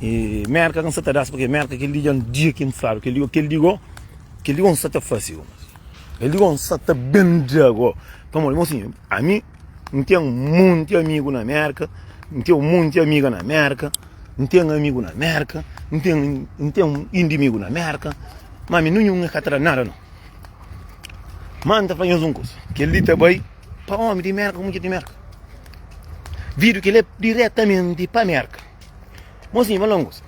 E Mérka ka N sa ta da-s, purkê Mérka kel-li dja N dja ki N fladu kel-li gó, kel-li gó, kel-li gó N sa ta fase gó, kel-li gó N sa ta ben-dja gó. Pamodi, mon sinhu, ami N ten monti amigu na Mérka, N ten monti amiga na Mérka, N ten amigu na Mérka, N ten, N ten indimigu na Mérka, má ami ninhun é ka ta da-m nada, nau. Má N ta fla nhos un kuza, kel-li ta bai. Pa omi di Merka ku mudjer di Merka. Vídiu ki lé diretamenti pa Merka. Mozinhus malongus,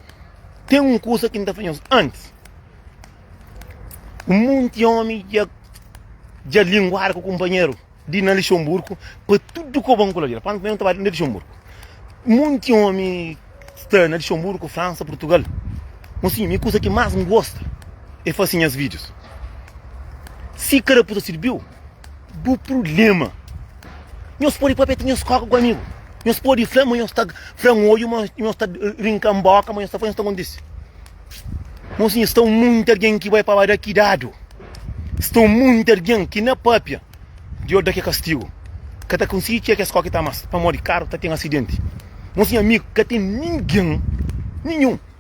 ten un kusa ki N ta fla nhos antis. Un monti omi dja dja linguadu ku kunpanheru di na Lixonburgu pa tudu ku bon ku la di la. Pamodi primeru N ta ba li na Lixonburgu. Un monti omi sta na Lixonburgu, Fransa, Purtugal. Mozinhu, mi kusa ki más N gosta é fase nhas vídius. Si ka da pus ta sirbiu, Bu problema. Nhos pode papia ti nhos koka ku amigu. Nhos pode fla, mas nhos ta fla um olho, mas nhos ta rinca um boca, mas nhos ta faz nhos ta acontece. Moço, estão muito alguém que vai para dar cuidado. Estão muito alguém que na papia de olho daqui castigo. Que tá conseguir que as coque tá mais. Para morrer caro, tá tem acidente. Moço, amigo, que tem ninguém, nenhum.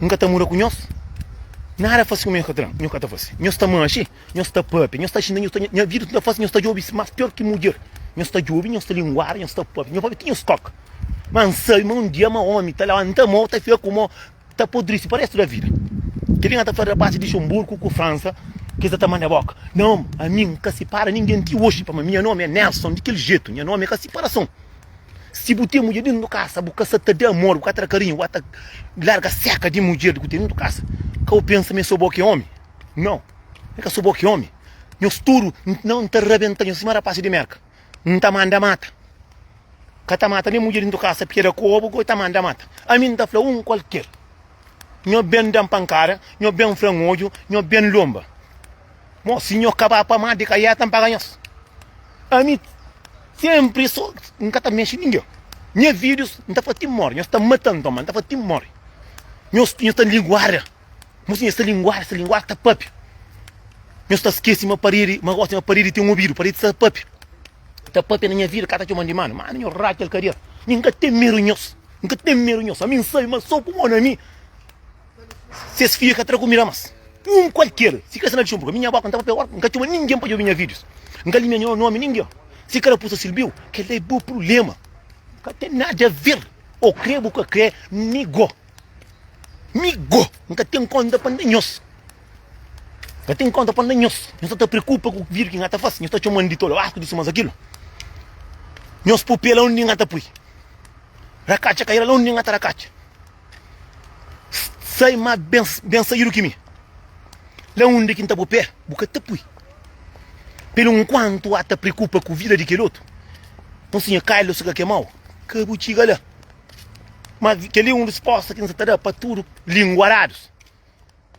N ka ta muda ku nhos. Nada fase kuma nhos ka ta fase. Nhos sta manxe, nhos sta papia, nhos sta xinta, nhos sta nha vida tudu ta fase, nhos sta djobi mas pior ki mudjer. Nhos sta djobi, nhos sta linguada, nhos sta papia, nhos papia ti nhos koka. Mas N sabi ma un dia ma omi ta lanta mô, ta fika ku mô, ta podrisi pa restu da vida. Kel inga ta fla rapaz di Luxemburgo ku Fransa ki es ta ta manda boka. Nau, ami N ka sipara ningen ti oxi, pama minha nomi é Nelson di kel jetu, nha nomi é ka siparason. Si bu ten mudjer dentu di kasa, bu ka sa ta da amor, bu ka ta da karinhu, bu ka ta larga seka di mudjer ki bu ten dentu di kasa. Ka bu pensa ma é so bo ki é omi. Nau, N ka so bo ki é omi. Nhos tudu N ta rabenta nhos sima rapasi di Merka. N ta manda mata. Ka ta mata nen mudjer dentu di kasa, p'e da kobu, goi ta manda mata. Ami N ta fla un kualker. Nho ben da-m pankada, nho ben fra-m odju, nho ben lonba. Mo, si nho ka ba pa má, di ka ié ta N paga nhos? Ami sénpri so, N ka ta mexe ningen. Nha fidjus, N ta fla ti móre, nhos ta mata-m ton, má N ta fla ti móre. Nhos nhos ta linguada, mo si nhos ta linguada, se linguada ta pâpia. Nhos ta skese ma paredi, ma gosi ma paredi ten obidu, paredi sa pâpia. ta papia na nha vida ka ta txoman di manu manu nho ratxa el kader mi nka ten meru nhos nka ten meru nhos ami nsabi ma so ku mon ami ses fia ka tra kumida mas um kualker si kre sina txunpu ka mi nha boka nta papia orka nka txoma ningen pa djobi nha videos nka limia nho nomi ningen si karapusa silbiu kela é bo prulema nka ten nada ver o kre bu ka kre mi go. Mi go, N ka ten kónta pa N da nhos. N ka ten kónta pa N da nhos. Nhos sa ta preokupa ku vídiu ki N ta faze. Nhos ta txoma-m di tolu, astu, distu, más akilo. Nhos pui pé launde N ta pui, rakatxa kaira launde N ta rakatxa. Sai má ben, ben saídu ki mi. Launde ki N ta pui pé, bu ka ta pui. Pelo nkuantu A ta preokupa ku vida di kel otu, nton si nha kailu sa ka kemau, ka bu txiga la. Mas kel-li é un respósta ki N sta ta da pa tudu língua aradus.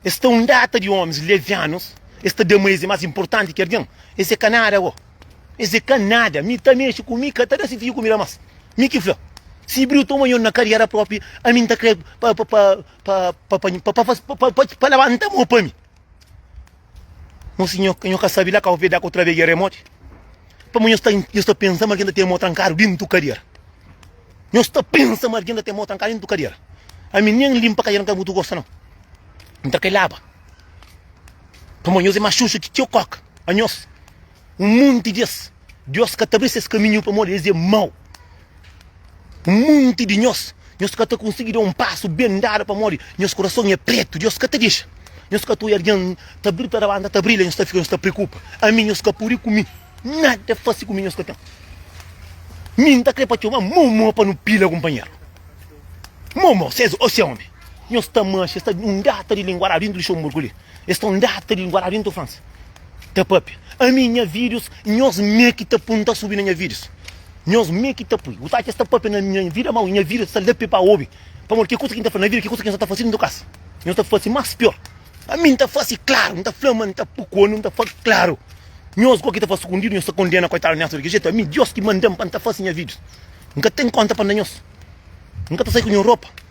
Es sta un data di ómis levianus, es ta da ma es é más inportanti ki algen. Es é ka nada bo. Es é ka nada. Mi ta mexe ku mi, ka ta da si fidju kumida más. Mi ki fla. Si briu toma nho na kariera própi, ami N ta krê pa labanta mô pa mi. Nho si nho, nho ka sabi la ka o vedak otra vez e remote. Pa ma nho sta, nho sta pensa ma algin ta ten mo trankadu dintu kadiera. Nho sta pensa ma algin ta ten mo trankadu dintu kadiera. Ami nen limpa kadiera nka mutu gosta nau. Nta ka e laba. Pamodi nhos e mas xuxu ki txeu koka. Anhos. Un monti di es, Diós ka ta abri ses kaminhu pamodi es é mau. Un monti di nhos, nhos ka ta konsigi da un pasu ben dadu pamodi nhos kurason é pretu. Diós ka ta dexa nhos ka ta oja algen ta bri, ta labanta, ta bri, la nhos ta fika, nhos ta preokupa. Ami nhos ka pode ku mi, nada fase ku mi nhos ka ten. Mi N ta kre pa txoma mo mo pa nu pila kunpanheru. Mo mo, ses o se omi. Nhos ta manxa, es ta un data di linguaradu dentu Luxemburgu li, es ta un data di linguaradu dentu Fransa. Ta papia ami nha videos nhos me ki ta pun ta subi na nha videos nhos me ki ta pui usa ki sta papia na nha vida mau nha videos ta lapia pa obi pamodi ki kusa ki ta fla na vida ki kusa ki nhos ta fasi nunka kas nhos ta fasi mas pior ami nta fasi klaru nta fla ma nta pui kono nta fla klaru nhos go ki ta fasi skundidu nhos ta kondena koitadu neas diki jetu ami dios ki mandan pa nta fasi nha videos nka ten konta pa nda nhos nka ta sai ku nha ropa.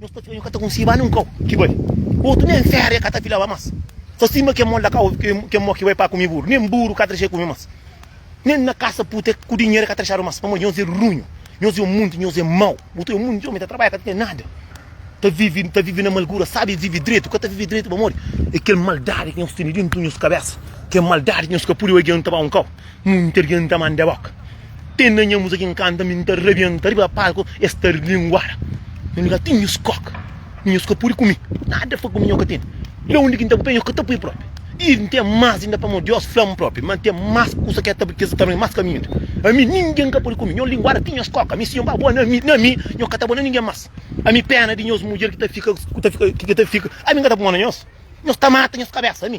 Nhos ta fila, nhos ka ta kunsi ba nin kau ki bai. Otu nen fera e ka ta fila ba mas. Sa sima ke mol da kau ke mo ki bai pa kumi buru, nen buru ka ta dexa e kumi mas. Nen na kasa puta ku dinheru e ka ta dexadu mas. Pamodi nhos e runhu, nhos e mundi, nhos e mau. Bu ta e mundi omi ta trabalha ka ta ten nada, ta vivi, ta vivi na malgura. Sabi vivi dretu? Ka ta vivi dretu pamodi e kel maldadi ki nhos tene dentu nhos kabesa. Kel maldadi ki nhos ka pudi bai dianta ba un kau. Munter dianta manda boka. Ten na nha musa kin kanta mi nta rabienta riba palku es ta rlinguada na lugar ti nhos koka mi nhos ka pudi kumi nada fa kumi nhos ka tene la undi ki nta bu pé nhos ka ta pui propi i nten mas inda pamo dios flam propi ma nten mas kusa ke ta kes kaminhu mas kaminhu inda ami ningen ka pudi kumi nhos linguada ti nhos koka mi si nhos ba bo na mi na mi nhos ka ta bo na ningen mas ami pena di nhos mudjer ki ta fika ki ta fika ki ta fika ami nka ta puma na nhos nhos ta mata nhos kabesa ami.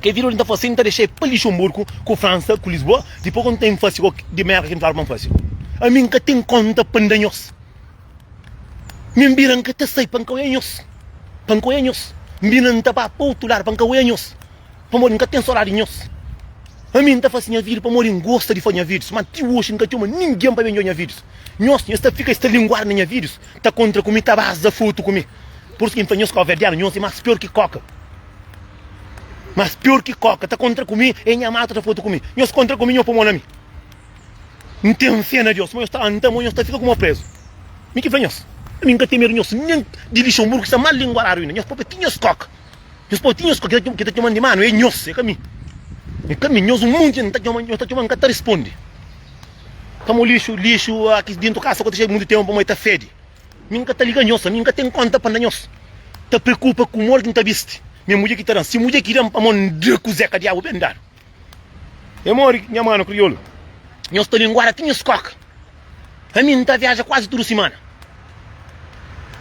Kel video li N ta fase, N ta dexa-e pa Lixonburgu, ku Fransa, ku Lisboa, dipô k'N ten fase k'ok di merka ki N flaba pa N fase. Ami N ka ten kónta pa N da nhos. Mi N bira N ka ta sai pa N ka oia nhos, pa N ka oia nhos. N bira N ta ba pa otu ladu pa N ka oia nhos, pamodi N ka ten sodadi di nhos. Ami N ta fase nha video pamodi N gosta di fase nha videos, má ti oxi N ka txoma ningen pa ben odja nha videos. Nhos, nhos ta fika, es ta linguada na nha videos, ta kontra ku mi, ta baza fotu ku mi. Pur isu ki N fla nhos, Kábu-Verdianu, nhos é más pior ki kóka. Mas pior ki koka ta kontra ku mi e nha matu ta fotu ku mi. Nhos kontra ku mi, nhos pô mon na mi. N ten fé na Deus, ma nhos ta anta mo, nhos ta fika ku mo prézu. Mi ki fla nhos, ami N ka ten medu di nhos, nen di Lixonburgu ki sta mal linguaradu inda. Nhos pâpia ti nhos koka. Nhos pâpia ti nhos koka. Ki ta txoma-m di manu é nhos, é ka mi. É ka mi. Nhos un monti N ta txoma, nhos ta txoma-m, N ka ta responde. Ka mo lixu, lixu, a ki dintu kasa ku ta xedu mundu tenpu, ma e ta fede. Mi n ka ta liga nhos, ami n ka ten kónta pa n da nhos. Ta preokupa ku modi ki n ta bisti. Nha mudjer ki ta da-m. Si mudjer ki da-m pamodi n da kuzé ka diabu ben dadu. É modi nha manu kriolu nhos ta linguada ti nhos skoka. Ami n ta viaja kuazi tudu simana.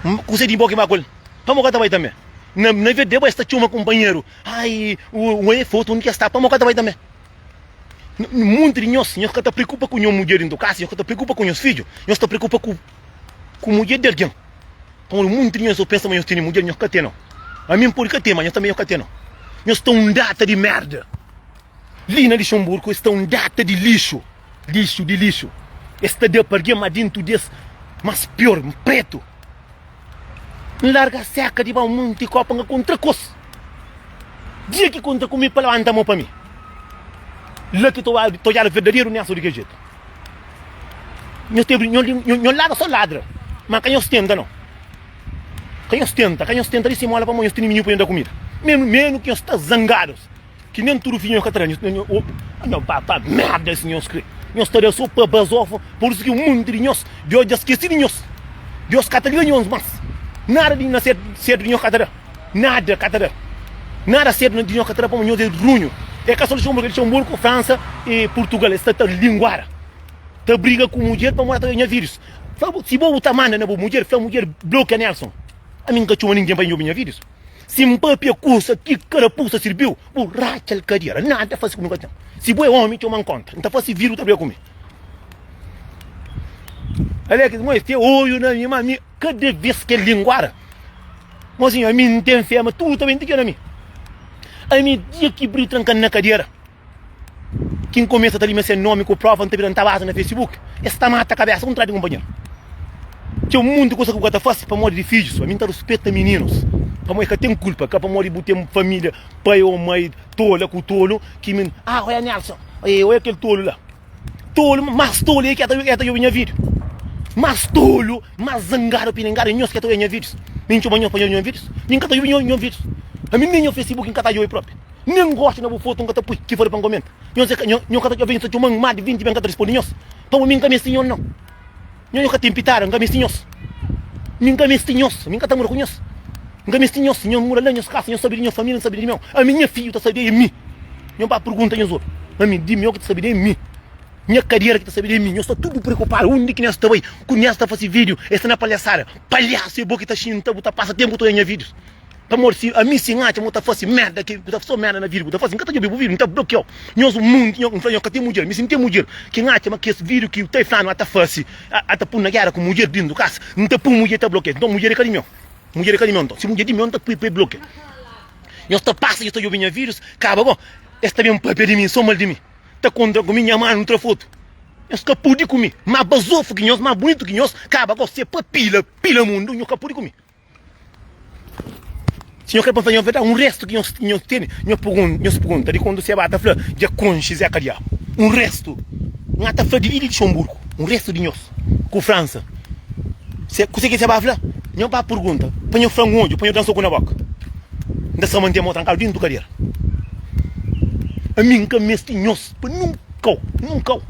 N kuzé di bo ki ba ku el. Pamodi ka ta bai tanbê? Na na verde bo es ta txoma kunpanheru. Ai, un oi é fotu, undi ki es sta? Pamodi ka ta bai tanbê? N monti di nhos, nhos ka ta preokupa ku nho mudjer dintu kasa, nhos ka ta preokupa ku nhos fidju, nhos ta preokupa ku ku mudjer di algen. Pamodi munti di nhos ô pensa ma nhos tene mudjer, nhos ka tene. Ami N pode ka tene, ma nhos tanbe nhos ka tene. Nhos sta un data di merda. Li na Lixenburgu, es sta un data di lixu. Lixu di lixu. Es ta da pa algen, ma dentu di es, mas pior, N pretu. N larga seka di ba munti kopa, N ka kontra ku es. Dia ki kontra ku mi, pa labanta mo pa mi. La ki ta odjadu verdaderu niasu di kel jetu. Nhos ten bri, nho, nho ladra só ladra, má ka nhos tenta nau. Ka nhos tenta, ka nhos tenta di simola pamodi nhos tene minhu pa nhos da kumida. Menu, menu ki nhos sta zangados, ki nen tudu fidju nhos ka ta da, nhos ta, nhos, opa, a nho papa merda es nhos kre, nhos ta da só pa bazofa, por isu ki un monti di nhos, Deus dja skesi di nhos, Deus ka ta liga nhos más, nada di na sértu, sértu di nhos ka ta da. Nada ka ta da. Nada sedu na dinho ka ta da pamo nhos e runho. E ka so Luxemburgo, e Luxemburgo, França e Portugal. Es ta ta linguara. Ta briga ku mudjer pamo ta nha videos. Fla bo, si bo bu ta manda na bo mudjer, fla mudjer blokia Nelson. Ami nka txoma ningen pa inhobi nha videos. Si N papia kusa ki karapusa sirbiu, bu ratxal kadiera. Nada fasi ku mi nka ten. Si bo e omi, txoma N konta. N ta fasi video bu ta briga ku mi. Alex Mois, te oiu na mi, ma mi. Kada bes ki el linguara, mozinho, ami N ten fé ma tudu ta ben ti keda mi. Ami, dia ki bri trankanu na kadera, ki N kumesa ta lima se nomi ku prova, N ta bira N ta baza na Facebook, es ta mata kabesa ku N tradi kunpanheru. Txeu monti kusa ku bu ka ta fasi pamodi di fidjus. Ami N ta ruspeta mininus, pamodi e ka ten kulpa, ka pamodi bu ten familia, pai o mai tola ku tolu ki mi. Ah, oia Nelson, oia kel tolu la. Tolu, más tolu é ki el ta obi nha vídiu. Más tolu, más zangadu, apiningadu é nhos ki el ta obi nha vídius. Mi N txoma nhos pa nhos obi nha vídius? Mi N ka ta obi nhos vídius. Ami nen nha Facebook N ka ta djobe própi. Nen gosta na bu fotu N ka ta pui ki fóde pa N komenta. Nhos ka ta, nhos ka ta, alvês nhos ta txoma-m má di vinti bem N ka ta responde nhos. Pamodi mi N ka meste nhos nau. Nho ka ten pitada, nka mesti nhos. Mi nka mesti nhos, mi nka ta mora ku nhos. Nka mesti nhos, nhos mora la, nhos kasa, nhos sabe di nho família, nhos sabe di mi. Ami nha fidju ta sabe di mi. Nho ba pergunta nhos otu. Ami, di mi o ki ta sabe di mi. Nha kadera ki ta sabe di mi. Nhos sta tudu preokupadu undi ki nhos ta bai, ku nhos ta fase vídju, e sta na palhasada. Palhasu é bo ki ta xinta, bu ta pasa tenpu todo nha vídjus. Pamodi si ami si N atxa ma bu ta fase merda ki bu ta fase so merda na vida bu ta fase N ka ta djobe bu video N ta blokiau nho so munti nho N fla nho ka ten mudjer mi si N ten mudjer ki N atxa ma kes video ki bu ta fla ma ta fase a ta pun na gera ku mudjer dintu kasa N ta pun mudjer ta blokia nton mudjer e ka di nho mudjer e ka di nho nton si mudjer di nho N ta pui pa e blokia nho sta pasa nho sta djobe nha videos kaba bo es ta ben papia di mi so mal di mi ta kontra ku mi nha manu tra fotu nhos ka pudi ku mi ma bazofu ki nhos ma bunitu ki nhos kaba bo se pa pila pila mundu nho ka pudi ku mi. Si nho kre pa faze un festa, un restu ki nho nho tene, nho pergunta, nho se pergunta di kondu Sebá ta fla dja konxe Zeka Diabu. Un restu, nha ta fla di li di Lixonburgu, un restu di nhos ku Fransa. Se kuse ki Sebá fla? Nho ba pergunta, pa nho franga un odju, pa nho da-m soku na boka. N ta sa mantê-m ô trankadu dentu kadera. Ami N ka meste nhos Pa nunkau, nunkau,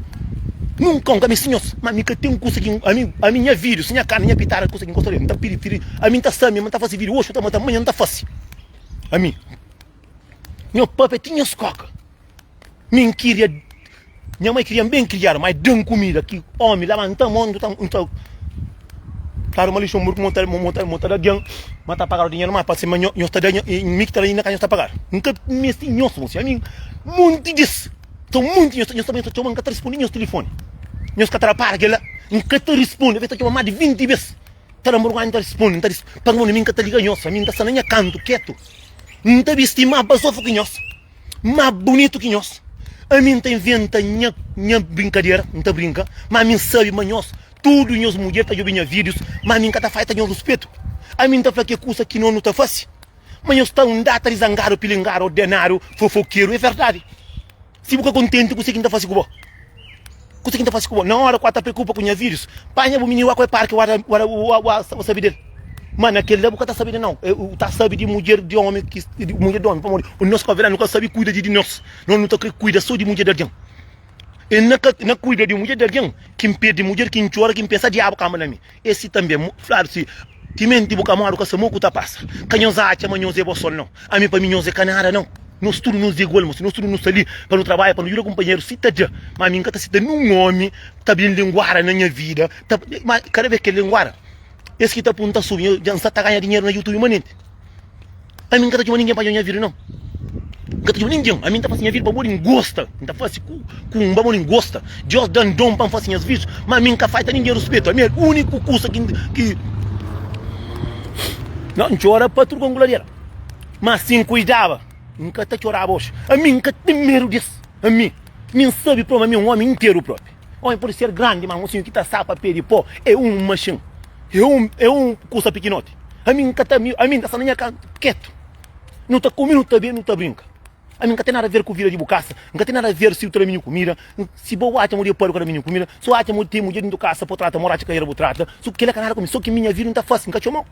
nunkau nka mi sinhos, ma mi ka ten kusa ki ami, ami nha vidus, nha karni, nha pitara kusa ki nka sodja, nta pirifiri ami nta sa mi ma nta fasi vidu oxi ta mata amanha nta fasi ami nho papia ti nhos koka mi nkiria nha mai kirian ben kriadu mai dan kumida ki omi laba nta mon nta. Claro ma li son murku, mon ta, mon, mon ta, mon ta da alguém, ma ta pagado dinheiro má, parse ma nho, nhos ta da, nho, e mi ki ta da inda ka nhos ta pagado. N ka meste nhos, mon senhor, ami monti des, ta monti nhos, nhos ta ben ta txoma, N ka ta responde nhos tilifone, nhos ka ta da para kel-la, N ka ta responde, avês ta txoma más di vinti bes, ta da murgónha, N ta responde, N ta res, pa mon ami N ka ta liga nhos, ami N ta sta na nha kantu ketu, N ta besti más bazofu ki nhos, má bunitu ki nhos, ami N ta inventa nha, nha brinkadera, N ta brinka, má ami N sabe ma nhos. Tudu nhos mudjer ta djobe nha vídius, má ami N ka ta faita nhos ruspetu. Ami N ta fla ke kusa ki no nu ta fase, má nhos sta undata di zangadu, pilingadu, ordenadu, fofokeru. É verdadi, si bu ka kontenti ku se ki N ta fase ku bo, ku se ki N ta fase ku bo, na óra ku a ta preokupa ku nha vídius, panha bu mininu, wá ku el parki, wá wá wá sabe del. Má na kel-la bu ka ta sabe di nau, é u ta sabe di mudjer di ómi ki, mudjer di ómi, pamodi nhos ku avel la nu ka sabe kuida di di nos, nos nu ta krê kuida sô di mudjer di algen. N na ka na kuida di mudjer di algen, ki N perde mudjer, ki N txora, ki N pensa diabu kanba na mi. Es si tanbe é fladu si, Timenti bu ka móre, bu ka sa mô ku ta pasa. Ka nhos atxa ma nhos é bo sol nau. Ami, pa mi, nhos é ka nada nau. Nhos tudu nhos é igual, mosi. Nhos tudu nu sta li pa nu trabadja, pa nu djuda kunpanheru si ta dja. Ma ami N ka ta seta nin omi ta bin linguada na nha vida, ta ma kada bes ki el linguada, es ki ta punta subi, dja N sa ta ganha dinheru na YouTube manenti. Ami nka ta txoma ningen pa dja nha vida nau nka ta txoma ningen ami nta fasi nha vida pabodi ngosta nta fasi ku ku nba modi ngosta diós dan don pa nfasi nhas vídios ma ami nka faita ningen ruspetu ami el uniku kusa ki ki nau ntxora pa tudu ku angularia ma si nkuidaba nka ta txoraba oxi ami nka ten medu di es ami mi nsabi promi ami un omi interu propi. Ómi pode ser grandi, má mosinhu ki ta sapa pé di pó é un maxin, é un kusa pikinoti. Ami N ka ta ami, ami N ta sta na nha ka, ketu. Nu ta kume, nu ta bebe, nu ta brinka. Ami N ka ten nada ver ku vida di bu kasa, N ka ten nada ver si bu ta da mi nha kumida, si bo atxa ma bu depadu ka da mi nha kumida, si bu atxa ma bu ten mudjer dentu kasa pa bu trata, moraxi ka era bu trata, su kila ka nada ku mi, so ki mi nha vida N ta fase, N ka txomau.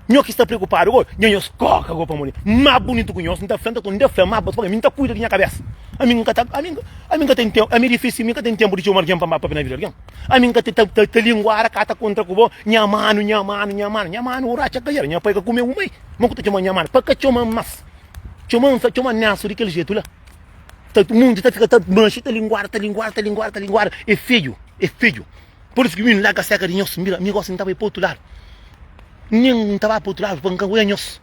Nho ki sta preokupadu go, nha nhos koka go pamodi ma bunitu ku nhos, nta fla nta konta, nta fla ma bos paga mi, nta kuida di nha kabesa. Ami nka ta, ami nka, ami nka ten tempu, ami difísil, mi nka ten tempu di txoma algen pa mba papia na vida algen. Ami nka ta, ta, ta linguada ka ta kontra ku bo, nha manu, nha manu, nha manu, nha manu ora atxa ka era, nha pai ka kume un mai, ma ku ta txoma nha manu, pa ka txoma mas, txoma nsa, txoma Nelson di kel jetu la. Ta, mundu ta fika ta manxi, ta linguada, ta linguada, ta linguada, ta linguada, e feju, e feju. Por isso que mi larga cerca de nhos, mira, mi gosta de ir para outro lado. Nem não estava para outro lado, para não é nhos.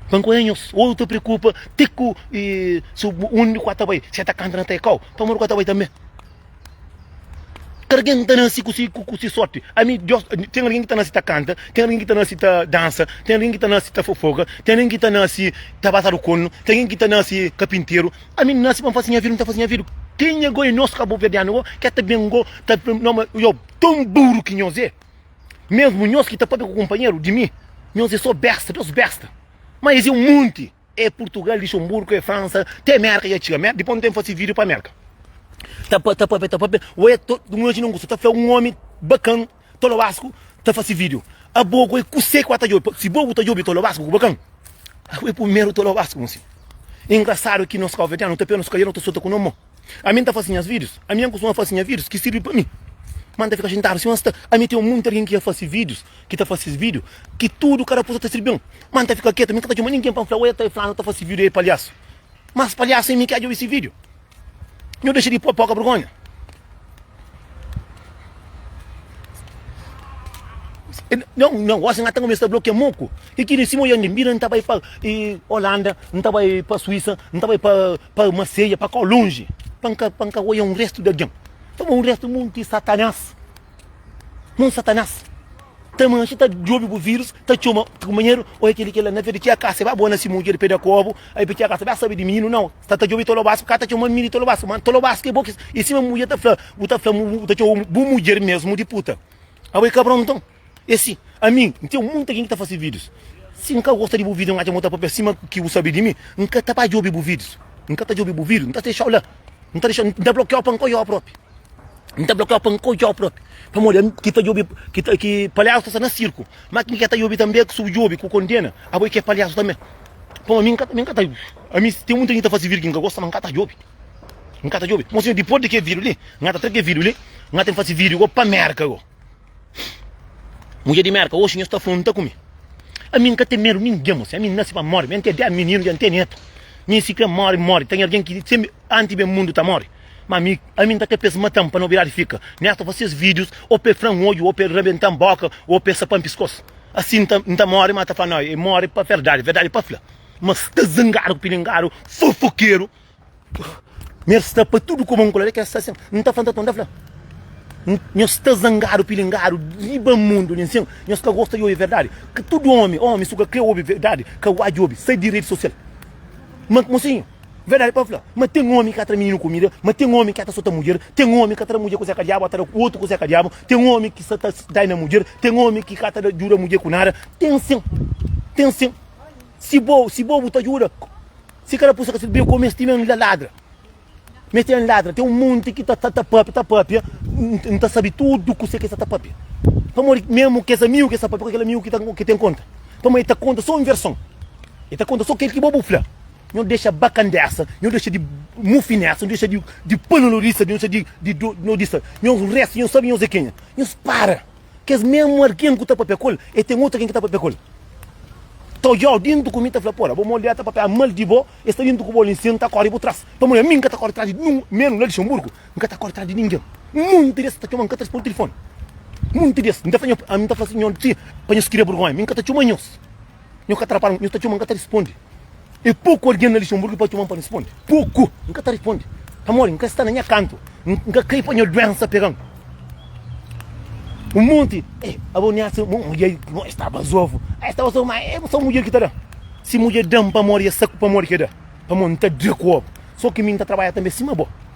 Para não é nhos. Ou eu te preocupa, tico, e se um de quatro vai, se está cantando até qual, para morrer quatro vai também. Quer alguém que está nasce com si, com si sorte. A mim, Deus, tem alguém que está nasce tá canta, tem alguém que está nasce tá dança, tem alguém que está nasce tá fofoca, tem alguém que está nasce tá passar o cono, tem alguém que está nasce carpinteiro, Ami n nase pa n fase nha vida, n ta fase nha vida kenha go e nos kabuverdianu go ke ta ben go ta yob ton buru ki nhos e, mesmu nhos ki ta papia ku kunpanheru di mi nhos e so besta, dos besta, ma es e un monti e Purtugal, Lixonburgu e Fransa te Merka dja txiga Merka, dipos n ten fase video pa Merka ta papia ta papia we ta imajina un kusa ta fla un omi bakan. Tolobasku ta fase video abo ku e kuse ku a ta djobe pa si bo bu ta djobe Tolobasku ku bakan abo e pumeru Tolobasku ku mostra e ingrasadu ki nos kauvedianu ta pena nos kadiera no ta sota ku no mo ami nta fase nhas videos ami an kustuma fase nha videos ki sirbi pa mi ma nta fika xintadu si ma sta ami ten munti algin ki a fase videos ki ta fase video ki tudu kada kusa ta sirbi-m ma nta fika ketu mi nka ta txoma ningin pa nfla oi el ta e fla no ta fase video e palhasu mas palhasu e mi ki a djobe si video. Nhu dexa di pô poka bergonha. Não, não, assim até começar a bloquear moco. E que nesse moia nem mira, não tava para Holanda, não tava para Suíça, não tava para para Marseille, para cá longe. Panca, panca, olha um resto de alguém. Tava um resto muito satanás. Mon satanás ta manxe ta djobe bu virus ta txoma kumanheru oi keli kela na verde txeka seba bo na si mudjer peda kobu ai pe txeka seba sabe di mininu nau sta ta djobe tolobas ka ta txoma mini tolobas ma tolobas ke bo ki i sima mudjer ta fla bu ta fla bu ta txoma bu mudjer mesmu di puta abo e kabron nton e si ami nten munta ken ki ta fase videos si nka gosta di bu video nka atxa mo ta papia sima ki bu sabe di mi nka ta ba djobe bu videos nka ta djobe bu videos nta ta dexau la nta dexau nta blokiau pa nka oiau propi. N ta blokiau pa N ka odjau propi Pamodi ami ki ta djobi ki palhasu ta sta na sirku Ma kin ke ta djobi tanbe ku subdjobi ku kondena Abo e ke palhasu tanbe Pamodi ami N ka ta ami ten munti di ta fase virgi N ka gosta ma N ka ta djobi N ka ta djobi Mon sinhor dipos di ke vidio li N ka ta tra ke vidio li N ka ta fase vidio go pa Merka go. Mudjer di Mérka, oxi nhos ta afronta ku mi. Ami N ka ten medu ningen, mô. Si ami N nase pa móre, mi N ten dés mininu, dja N ten nétu. Mi si krê móre, N móre. Ten algen ki senbra antis ben mundu ta móre. Má ami, ami N ta krê pa es mata-m pa nobridadi fika. Mi N sta fase es vídius ô pa el fra-m odju, ô pa el rabenta-m bóka, ô pa el sapa-m piskos. Asi N ta, N ta móre, má ta fla, Nau, el móre pa verdadi, verdadi pa fla. Mas ta zangadu ku pilingadu, fofokeru. Nhos sta pa tudu kuma un kolera, kes sta sen, n ta fla, n ta tonta fla. Nhos sta zangadu, pilingadu, riba mundu li nsin, nhos ka gosta di obi verdadi. Ka tudu omi, omi su ka kre obi verdadi, ka wadju obi, sai di redi sosial. Ma mosinhu, verdadi pa fla, ma ten omi ka tra mininu kumida, ma ten omi ka ta sota mudjer, ten omi ka tra mudjer kuzé ka diabu, a tra otu kuzé ka diabu, ten omi ki sa ta dai na mudjer, ten omi ki ka ta djuda mudjer ku nada, ten sin, ten sin. Si bo, si bo bu ta djuda. Si ka raposa ka sedu bem kome es ti mem la ladra mes ten ladra tem um monte ki ta ta papia ta papia um ta sabi tudo ku se ke sa ta papia pamodi memo kes amigo ke sa papia ku kel amigo ki ta ki tem conta pamodi e ta conta so um versão e ta conta so kel ki bo bu fla nho dexa bacandessa nho dexa di mufinessa nho dexa di di panolorissa nho dexa di di nho dissa nho resta nho sabi nho ze kenha nhos para. Kes mesmu algen ku ta papia ku el, e ten otu algen ki ta papia ku el. Ta odja-u dintu ku mi, ta fla, Pô-la, bo modi el ta papia mal di bo, el sta dintu ku bo li, nsin, N ta kóre bu tras. Pamodi ami N ka ta kóre tras di nin-un, ménus la Luxenburgu, N ka ta kóre tras di ningen. Monti di es ta txoma-m, N ka ta responde tilifoni. Monti di es, N ta fla, Ami N ta fla si, Nhos, txi, pa nhos kria burgónha, mi N ka ta txoma nhos. Nhu ka ta rapal, nhu ta txoma, N ka ta responde. É poku algen na Lixenburgu ki pode txoma-m pa responde. Poku! N ka ta responde. Pamodi N ka sta na nha kantu. N ka kai pa nha duénsa pega-m. Un monti, Ei, abo N atxa un mudjer ki bo sta bazovu. Ei, sta bazovu, ma é sô mudjer ki ta da. Si mudjer da-m pamodi é saku, pamodi ki é da? Pamodi N ta da ku abo. Sô ki mi N ta trabadja tanbê sima bo.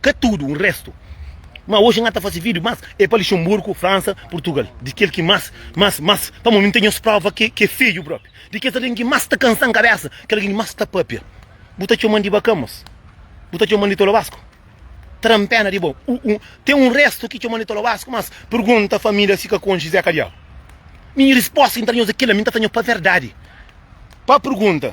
Ka tudu, un restu. Ma oji N ta fase vídiu más é pa Luxemburgo, Fransa, Purtugal. Di kel ki más, más, más, pamodi nu ten nhos próva ki é fedju própi. Di kes algen ki más ta kansa-m kabésa, kel algen ki más ta pâpia. Bu ta txoma-m di Bacamas? Bu ta txoma-m di Tolobasku? Ta da-m péna di bo. U-u, ten un restu ki txoma-m di Tolobasku, mas pergunta família si ka konxe Zé Kadiau. Mi, respósta ki N ta da nhos é kel-la, mi N ta fla nhos pa verdadi. Pa pergunta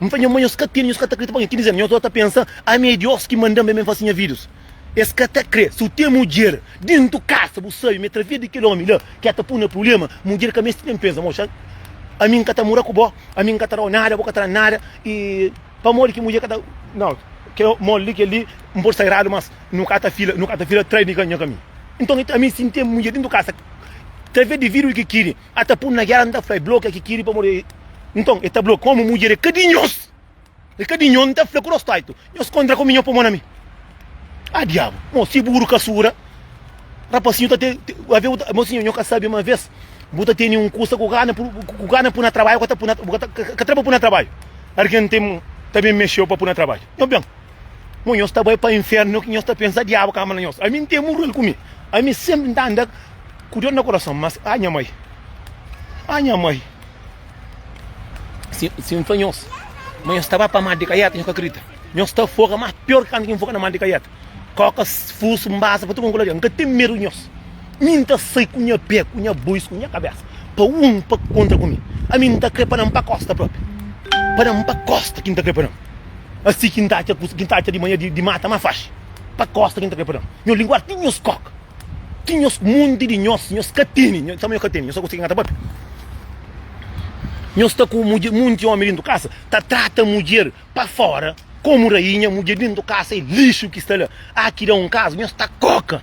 N fla, Nha mãe, nhos ka tene, nhos ka ta kre. Tipo algen ki dize-m, Nhos ora ta pensa, ami é Diós ki manda-m ben ben fase nha vidus. Es ka ta kre. Si bu ten mudjer dentu kasa, bu sabe ma é través di kel ómi la ki el ta pô-u na prubléma. Mudjer ka meste nen pensa, Moxa, ami N ka ta mora ku bo, ami N ka ta da-u nada, bo ka ta da-m nada. I pamodi ki mudjer ka ta. Nau, kel modi li, kel li N pode sagradu, mas nu ka ta fila, nu ka ta fila tras di nha kaminhu. Nton, ami si N ten mudjer dentu kasa, través di vidus ki kiri. A ta pun na gera, N ta fla, E blokia ki kiri pamodi e. Nton, e ta blokia. Komu mudjer e ka di nhos, e ka di nho, N ta fla ku rostaitu, Nhos kontra ku mi, nho pô mo na mi. A diabu! Mo, si buru ka sura, rapasinhu ta te. Ave bu ta. Mosinhu, nho ka sabe ma ves bu ta teni un kusa ku gana pur, ku gana pu na trabaiu, ka ta pu na, bu ka ta, ka ta bu ka ta pu na trabaiu. Argen ten ta ben mexeu pa pu na trabaiu. Nho ben. Mo nhos ta bai pa infernu, ki nhos ta pensa diabu ka ama na nhos. Ami n ten murru el ku mi. Ami sempri n ta anda ku dor na kurason, mas a nha mai, a nha mai, si n fla nhos ma nhos ta bai pa mar di kaiata nhos ka kridita. Nhos ta foga mas pior kantu ki n foga na mar di kaiata. Koka, fusu, mbasa pa tudu kantu ku ladjon. N ka ten medu di nhos. Mi n ta sai ku nha pé, ku nha bois, ku nha kabesa pa un pa kontra ku mi. Ami n ta kre pa nan pa kosta propi. Pa nan pa kosta ki n ta kre pa nan. Asi ki N ta atxa kusa, ki N ta atxa di manha di mata má faxi pa kósta ki N ta kai pa déntu. Nhos linguar ti nhos kóka, ti nhos monti di nhos, nhos ka tene, nhos tanbê nhos ka tene, nhos ka konsigi ngata pape. Nhos sta ku mudjer, monti ómi déntu kasa ta trata mudjer pa fóra komu rainha, mudjer déntu kasa é lixu ki sta la. Aki da un kaza nhos ta kóka.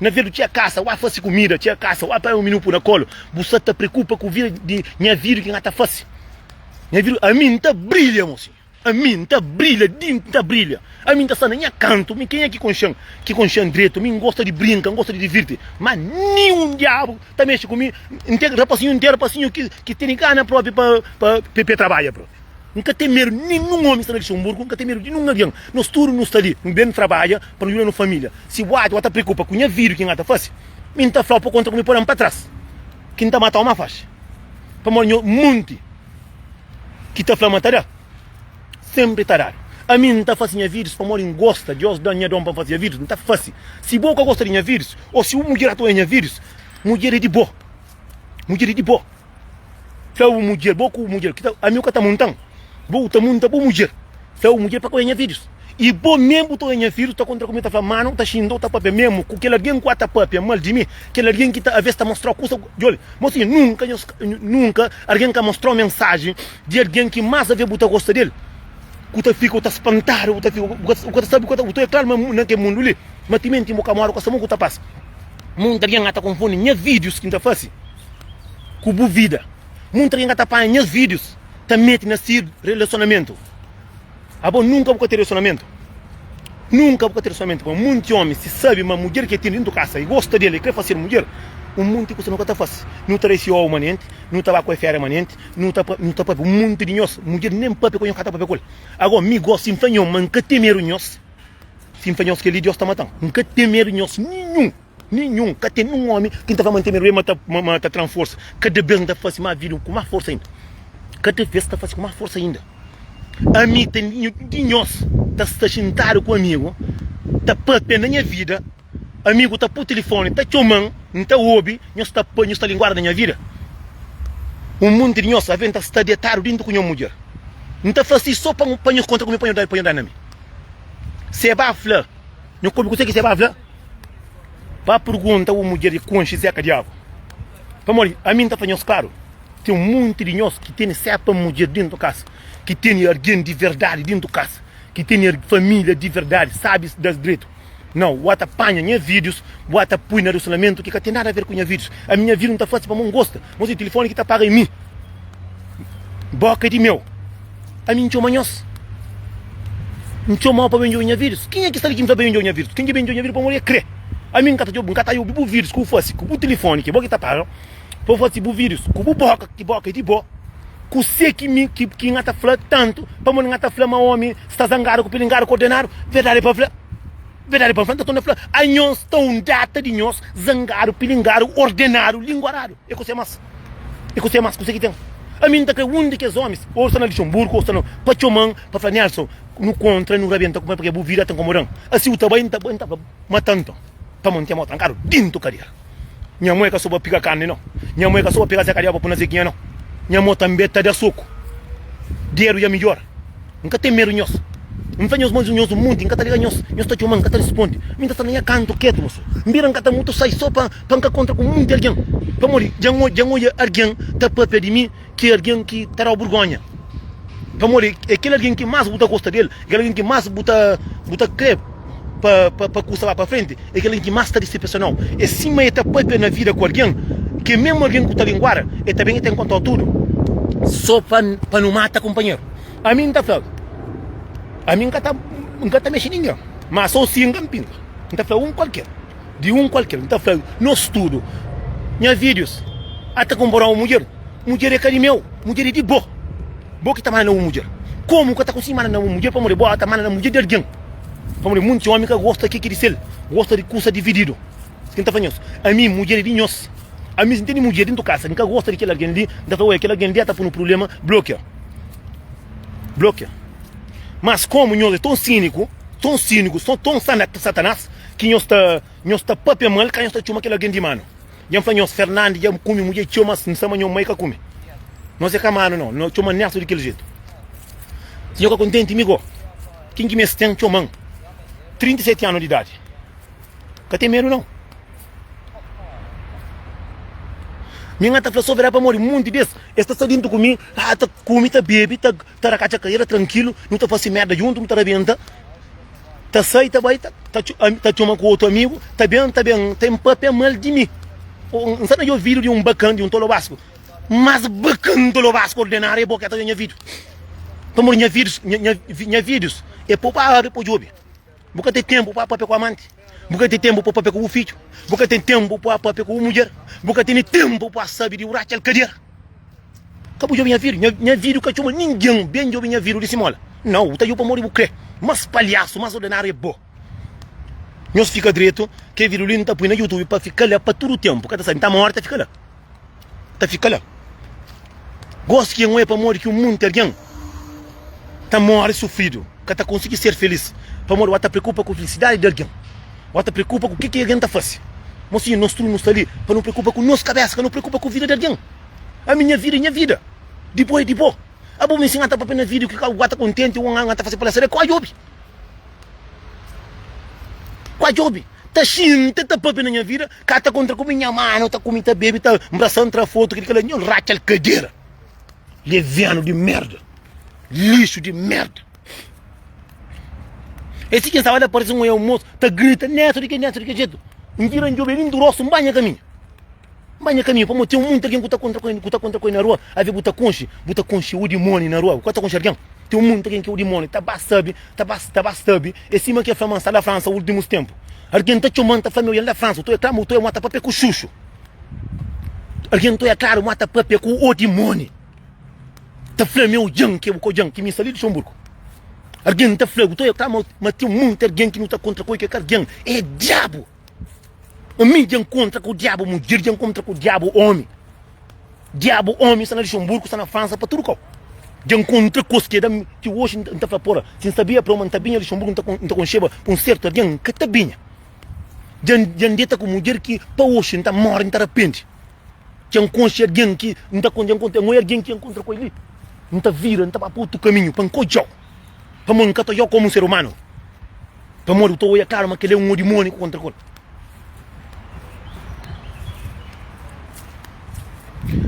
Na vedu txia kasa wá fasi kumida txia kasa wá pai un minu pu na kolu bu sa ta prekupa ku vida di nha vidu ki nha ta fasi nha vidu ami n ta brilha mo si ami n ta brilha di n ta brilha ami n ta sta na nha kantu mi kenha ki konxan ki konxan dretu mi n gosta di brinka n gosta di divirti má nin un diabu ta mexi ku mi n ten rapasinhu n ten rapasinhu ki ki tene gana propi pa pa pe trabalha propi. N ka ten medu di ninhun omi sta na Lixenburgu, N ka ten medu di ninhun algen. Nos tudu nu sta li, nu ben trabadja pa nu djuda no família. Si bu atxa ku N ta preokupa ku nha vida, ki N ta fase? Mi N ta fla-u, pa kontra ku mi pode-m pa tras, ki N ta mata-u ma faxi. Pamodi nha monti ki ta fla ma ta da, senpri ta dadu. Ami N ta fase nha vidus pamodi N gosta, Diós da-m nha don pa N fase nha vidus, N ta fase. Si bo ka gosta di nha vidus, ô si un mudjer atoia nha vidus, mudjer é di bo. Mudjer é di bo. Fla bu mudjer, bo ku mudjer, ami ku ka ta munta-m. Bo bu ta munta bu mudjer. Fla bu mudjer pa ka oja nha fidjus. I bo meme bu ta oja nha fidjus, ta kontra ku mi, ta fla, Mano, ta xinta-u, ta pâpia meme ku kel algen ku a ta pâpia mal di mi, kel algen ki ta avês ta mostra-u kusa. Djobe, mosinha, nunka nhos, nunka algen ka mostra-u mensajen di algen ki más avês bu ta gosta di el, ku ta fika bu ta spantadu, bu ta fika, bu ka ta sabe, bu ta oja kláru ma na kel mundu li, ma timenti bu ka móre ku es, amor ku ta pasa. Munt algen ka ta konfundi nhas vídius ki N ta fase ku bu vida. Munt algen ka ta panha nhas vídius ta mete na si relasionamentu. Abo nunka bu ka ten relasionamentu. Nunka bu ka ten relasionamentu. Má monti ómi, si sabe ma mudjer ki el ten déntu kasa i gosta di el, i krê fasedu mudjer, un monti kusa nu ka ta fase. Nu ta resi owu manenti, nu ta ba ku el féria manenti, nu ta nu ta pâpia. Un monti di nhos, mudjer nen pâpia ku el, nhos ka ta pâpia ku el. Ago, mi gosi, N fla nhos ma N ka ten medu nhos. Sim, pa nhos kel-li Diós ta mata-m. N ka ten medu nhos ninhun, ninhun. Ka ten un ómi ki N ta fla ma N ten medu el, ma ta, ma ta tra-m forsa. Kada bês N ta fase más vida, ku más forsa inda. Kada bês N ta fase ku más forsa inda. Ami ta, un di nhos ta sta xintadu ku ami, ta pâpia na nha vida. Amigu ta pô tilifoni, ta txoma-m, N ta obi, nhos ta pâ, nhos ta linguada na nha vida. Un monti di nhos avê N ta sta detadu déntu ku nha mudjer. N ta fase sô pa pa nhos kontra ku mi, pa nhos pa nhos da na mi. Sebá fla, Nhu ka obi kuzê ki Sebá fla. Ba pergunta un mudjer di konxe Zé Kadiabu. Pamodi ami N ta fla nhos klaru, ten un monti di nhos ki tene sê pa mudjer déntu kasa, ki tene algen di verdadi déntu kasa, ki tene família di verdadi, sábis da dretu. Nau, bua ta panha nha videos, bua ta pui na relacionamentu ki ka ten nada a ver ku nha videos. Ami nha vida nta fasi pamo ngosta, mos e telefoni ki ta paga e mi. Boka e di meu. Ami ntxo manhos. Ntxo mau pa ben djobe nha videos. Kenha ki sta li ki nta ben djobe nha videos? Ken ki ben djobe nha videos pamo li e kre. Ami nka ta djobe, nka ta yubi bu videos ku bu fasi, ku bu telefoni ki bo ki ta paga. pa bu fla si bu vidus ku bu boka ki boka é di bo kusé ki mi ki ki nga ta fla tantu pamodi nga ta fla ma omi sta zangadu ku pilingadu ku ordenadu verdadi pa fla verdadi pa fla nta torna fla anhos ta un data di nhos zangadu pilingadu ordenadu linguaradu é kusé mas é kusé mas kusé ki ten ami nta kre un di kes omis ou sta na lixonburgu ou sta na pa txoman pa fla nelson nu kontra nu rabenta ku pa ke bu vida ta nkomodan asi u ta bai nta bai nta fla ma ta nton pamodi nten mau trankadu dintu kadera. Nha mô é ka so pa piga karni no Nha mô é ka so pa pega zekaria pa puna zekinha no Nha mô tanbê ta da soku Dedu dja midjora N ka ten medu nhos N fla nhos ma nhos un monti N ka ta liga nhos Nhos ta txoma-m N ka ta responde Mi ta sta na nha kantu ketu ma so N bira N ka ta mutu sai so pa N ka kontra ku monti algen Pamodi dja N odja N odja argen ta papia di mi ki algen ki ta da-u burgonha. Pamodi é kel algen ki más bu ta gosta di el, é kel algen ki más bu ta bu ta krê pa pa pa kusa bai pa frenti, é kel algen ki más ta disepesiona-u. É sima el ta pâpia na vida ku algen, ki é mésmu algen ki bu ta linguada, el ta ben el ta inkontra-u tudu sô pa pa nu mata kunpanheru. Ami N ta fla-u, ami N ka ta N ka ta mexe ningen, má sô si N ka N pinga, N ta fla un kualker, di un kualker, N ta fla-u, nos tudu, nha fidjus, ata kunpra un mudjer. Mudjer é ka di meu, mudjer é di bo. Bo ki ta manda na bu mudjer. Komu ku ka ta konsi manda na bu mudjer pamodi bo ta manda na mudjer di algin. Pamodi munti omi ka gosta ke ki di sel, gosta di kusa divididu. Ki N ta fla nhos, ami mudjer é di nhos. Ami si N tene mudjer dentu kasa, N ka gosta di kel algin li, N ta fla, Oia, kel algin li ya ta punu prubléma, blokia. Blokia. Mas komu nhos é ton síniku, ton síniku, son ton Satanás ki nhos ta, nhos ta pâpia mal ka nhos ta txoma kel algin di manu. Dja n fla nhos, Fernandi dja kume mudjer txeu, mas n sa ma nho mai ka kume. Nos é kamanu nau, no txoma Nerto di kel jetu. Si nho ka kontenti mi go, kin ki mes ten txoman? 37 anu di idadi. Ka ten medu nau. Mi n ata fla sover é pamodi munti des es ta sta dentu ku mi, ah ta kume, ta bebe, ta. ta da katxa karera trankilu, nu ta fase merda djuntu, nu ta rabenta, ta sai ta bai, ta txoma ku otu amigu, ta ben, ta ben, ta en papia mal di mi. N sa ta dja ovidu di un bakan, di un tolo basku, mas bakan tolo basku ordenadu é bo ki é ta dja nha vidu, pamodi nha vidus, nha vidus é pa pa abri, pa djobe. Bu ka ten ténpu pa pâpia ku amanti. Bu ka ten ténpu pa pâpia ku bu fidju. Bu ka ten ténpu pa pâpia ku bu mudjer. Bu ka tene ténpu pa sabe di uratxa alkadiera. Ka bu djobe nha vidu. Nha, nha vidu ka txoma ningen ben djobe nha vidu di Simola. Nau, bu ta djobe pamodi bu kre. Más palhasu, más ordenáriu é bo. Nhos fika dretu, ke vidu li N ta pui na YouTube pa fika la pa tudu ténpu, ka ta sai. N ta morta fika la. ta fika la. Gosi ki é moe pamodi ki un monti algen ta móre sufridu, ka ta konsigi ser filís pamodi bu sta preokupa ku filisidadi di algen. Bu sta preokupa ku kiki algen ta fase. Mosinha, nos tudu nu sta li pa nu preokupa ku nos kabésa, ka nu preokupa ku vida di algen. Ami, nha vida é nha vida, di bo é di bo. Abo mi nsinadu pape na vídiu ki ka bu sta kontenti ku un ta fase pa la saber, ka bu djobe. Ka bu djobe. Ta xinti, ta pape na nha vida. Ka ta kontra ku mi nha manu ta ku mi ta bebe ta mbrasan tra foto kil kala nhol ratxal kadera levianu di merda lixu di merda e si ken staba la parse un e almoço ta grita Neto di ke Neto di ke jeito n vira n djobe li n durosu n ba nha kaminhu n ba nha kaminhu pamo ten muita algen ku ta kontra ku e ku ta kontra ku e na rua ave bu ta konxe bu ta konxe u dimoni na rua bu ka ta konxe algen ten muita algen ke u dimoni ta ba sabe ta ba ta ba sabe. É sima ki el fla ma N sta la Fransa últimus ténpu Algen ta txoma-m, ta fla-m, Eu ya la Fransa Utó ya klaru, utó ya muata pâpia ku xuxu Algen utó ya klaru, muata pâpia ku odimóni Ta fla-m, Eu dja-m, ki é bu ka odja-m, ki mi sta li Luxonburgu Algen ta fla-bu, utó ya klaru, ma ten monti algen ki nu ta kontra Kói ki é ka algen, é diabu! Omi dja nkontra ku diabu mudjer, dja nkontra ku diabu omi. Diabu omi sta na Luxemburgo, sta na Fransa, pa tudu kau. Dja nkontra kos ki é da mi, ki oxi N ta fla pô-la, si N sabia preu ma N ta binha Luxemburgo N ta N ta konxeba pa un sertu algen, N ka ta binha. Dja N dja N deta ku mudjer ki pa oxi N ta móre N ta rapende. Dja N konxe algen ki N ta N dja N konta, N oi algen ki dja N kontra ku el li, N ta vira N ta ba pa otu kaminhu pa N ka odja-u. Pamodi N ka ta oiá-u komu un ser umanu, pamodi bu ta oiá klaru ma kel é un odimóniu ku kontra-kor.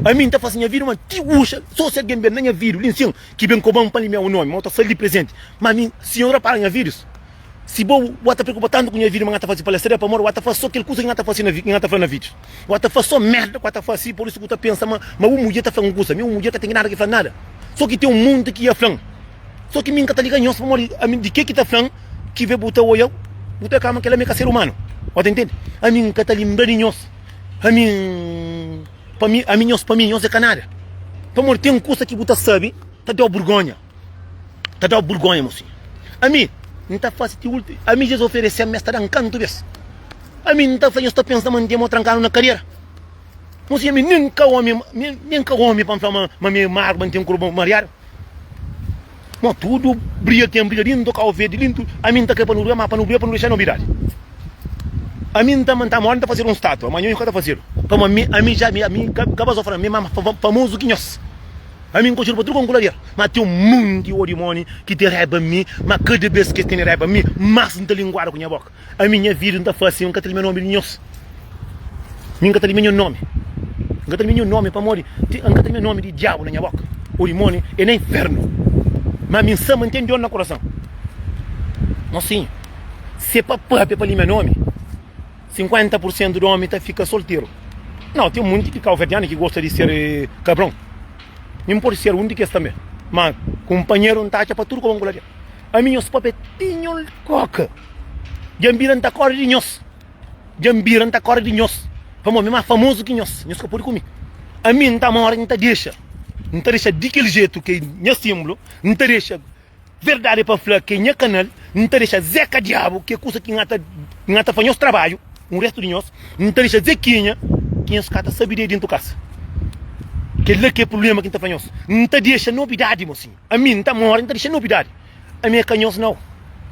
Ami N ta fase nha vida ma ti uxa, sô si algen ben na nha vida, li nsin, ki ben koba-m pa N limia-u un ómi, ma N ta sta-l di prezenti. Ma ami, si N rapara nha vidus. Si bo bo ta preokupa tantu ku nha vida ma nha ta fase palestra é pamodi bo ta fase so kel kusa ki nha ta fase na ki nha ta fla na video bo ta fase so merda ku nha ta fase por isu ku ta pensa ma ma bu mudjer ta fla un kusa mi un mudjer ka ten ki nada ki fla nada so ki ten un monti ki ya flan so ki mi nka ta liga nhos pamodi ami di ke ki ta flan ki ve bu ta oia bu ta kama kel ami ka ser umanu bo ta ntende ami nka ta limbra di nhos ami pa mi ami nhos pa mi nhos é ka nada pamodi ten kusa ki bu ta sabe ta dau burgonha. ta da-u burgonha mo fidju. Ami, N ta fase ti últimu. Ami, si es oferese-m, es ta da-m kantu bês. Ami, N ta fla nhos, ta pensa ta mante-m ô tranka-m na kadiera. Mo fidju, ami nen N ka ómi, nen N ka ómi pa N fla ma mi é magu, ma N ten korpu mariadu. Mo tudu briga ten briga dintu, kau verde di dintu. Ami, N ta krê pa nu briga, má pa nu briga, pa nu dexa nobidadi. Ami, N ta manta modi N ta fazedu un státua, má nhos ka ta fazedu. Pamodi ami, ami ja ami ka ba so fla-m, mi é más famozu ki nhos. Ami N konxedu pa tudu konkulader, ma ten un monti odi moni ki ten raiba di mi, ma kada bes ki es tene raiba di mi, mas N ta linguadu ku nha boka. Ami nha vidu N ta fase, N ka ta limia nomi di nhos, mi N ka ta limia nho nomi, N ka ta limia nho nomi, pamodi N ka ta limia nomi di diabu na nha boka, odi moni e na infernu. Ma ami N sa ma N ten di odi na kurason, ma si se pa pape pa limia nomi. 50% di omi ta fika solteru. Nau, ten monti di kauverdianu ki gosta di ser kabron. Mi N pode ser un di kes tanbe. Ma kunpanheru N ta atxa pa tudu koba N ku la dja. Ami nhos pape tinhol koka. Dja N bira N ta kore di nhos. Dja N bira N ta kore di nhos. Pamodi mi ma famozu ki nhos. Nhos ka pode ku mi. Ami N ta more, N ta dexa. N ta dexa di kel jetu ke nha simblu. N ta dexa. Verdade pa fla ke nha kanal n ta dexa zeka diabu ke kusa ki nhata nhata fa nhos trabadju un restu di nhos n ta dexa zekinha ki nhos ka ta sabi de dintu kasa kel la ke problema ki n ta fla nhos n ta dexa nobidadi mo sim ami n ta mori n ta dexa nobidadi ami e ka nhos nau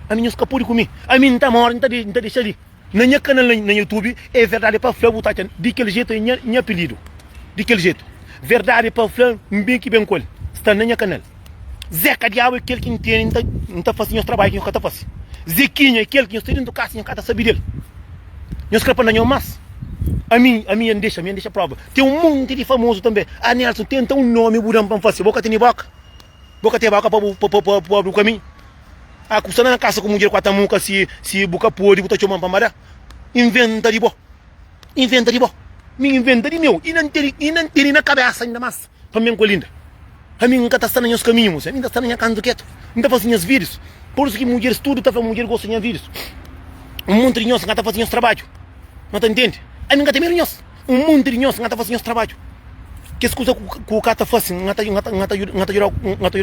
ami nhos ka pudi ku mi ami n ta mori n ta dexa li. Na nha canal na na youtube é verdade pa fla bu ta atxa di kel jeito é nha nha apelido di kel jeito verdade pa fla n bem ki bem kol sta na nha canal zeca diabo é kel ki n tene n ta n ta fasi nhos trabalho ki nhos ka ta fasi zequinha é kel ki nhos sta dentro casa nhos ka ta sabi del nhos kre pa na nhos mas ami ami ya n dexa ami ya n dexa prova tem um monte di famoso também ah Nelson tenta um nome bu dam pa n fasi bo ka tene boca. Bo ka teve auka pa bu pâpia bu kami? A ku sta na kasa ku mudjer ku ata muka si si bu ka pode bu ta txoman pa mada? Inventa di bo, inventa di bo, mi inventa di meu i na n tene i na n tene na kabesa inda mas pa mi ku Linda. Ami n ka ta sta na nhas kaminhu mos, ami n ta sta na nha kantu ketu, n ta fase nhas videos, pur isu ki mudjeris tudu ta fla mudjer gosta di nha videos. Un monti di nhos n ka ta fase nhos trabadju, no ta ntende? Ami n ka ta medu nhos. Un monti di nhos, N ta fase nhos trabadju. Kes kuza ku ka ta fase, N ta djuda-u.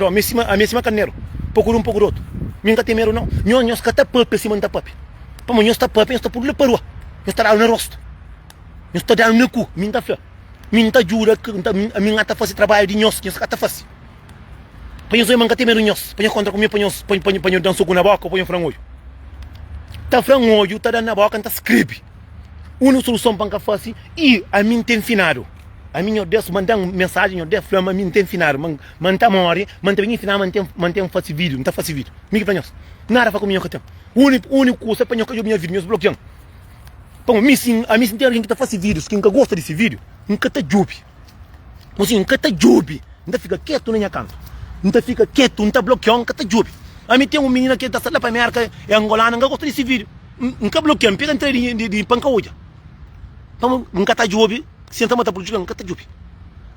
Ami é sima karneru, poku di un, poku di otu. Mi N ka ten medu, nau. Nhos, nhos ka ta pâpia sima N ta pâpia. Pamodi nhos ta pâpia, nhos ta pô-nu la pa rua, nhos ta da-nu na rostu, nhos ta da-nu na ku. Mi N ta fla, Mi N ta djuda, ami N ta fase trabadju di nhos ki nhos ka ta fase. Pa nhos obi ma N ka ten medu di nhos, pa nhos kontra ku mi, pa nhos da-m soku na bóka ô pa nhos fla-m odju. Ta fla-m odju, ta da-m na bóka, N ta skrebi. Úniku soluson pa N ka fase i ami N ten finadu. Ami nho Deus manda N mensajen, nho Deus fla-m ami N ten finadu, ma N ta móre, ma N ta ben insina-m ma N ten, ma N ten fase vídiu, N ta fase vídiu. Mi ki fla nhos? Nada fla ku mi nho ka ten. Úniku, úniku kusa pa nho ka djobe nha vídiu, nhos blokia-m. Pamodi mi si, ami si N ten algen ki ta fase vídius ki N ka gosta di se vídiu, N ka ta djobe. Nsin, N ka ta djobe, N ta fika ketu na nha kantu, N ta fika ketu, N ta blokiau, N ka ta djobe. Ami ten un minina ki ta sta la pa Merka, e angolana, N ka gosta di si video, N ka blokia, N pega N tra di pa N ka odja. Pamo, N ka ta djobe, si el ta mata prujudikal, N ka ta djobe.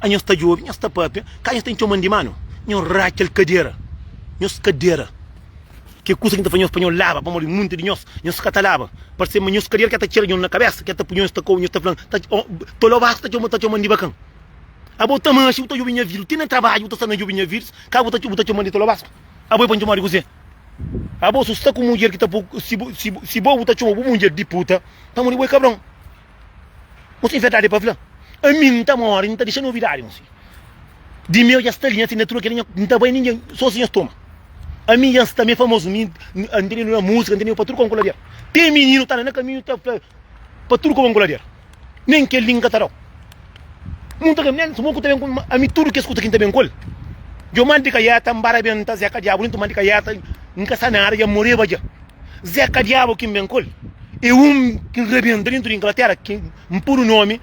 A nhos ta djobe, nhos ta papia, ka nhos ta intxoman di manu, nhos ratxal kadera, nhos kadera. Ke kusa ki N ta faze nhos pa nhos laba? Pamodi munti di nhos, nhos ka ta laba. Parse ma nhos karier ke ta txera nhos na kabesa, ke ta pui nhos ta kau, nhos ta fla-m, Ta txola bas, ta txoma-n di bakan. Abo ta manxi, bu ta jubi nha vidus, ti na trabadju bu ta sta na jubi nha vidus, ka bu ta txoma-n di txola bas? Abo e pa-m txoma-u di kuzê? Abo su sta ku mudjer ki ta pô-u, si bo bu ta txoma bu mudjer di puta, pamodi bo e kabron. Ose é verdade pa fla ami nta mori nta dexa novidade ose di meu ya sta li nhas natura kela nta bai ninguém só si nhas toma ami ya nsta mi é famoso mi antene no na musica antene pa tudo kon kula der te menino ta anda na caminho ta fla pa tudo kon kula der nem kel li nka ta dau mun ta nem suma ku ta ben ami tudo kes kusa ki nta ben kol djo mal di kaiata nbara ben nta zeka diabo nta mal di kaiata nka sa nada ya moreba dja. Zeka diabu ki N ben kol, e un ki N rebenta dentu di Inglatera, ki N pudu nomi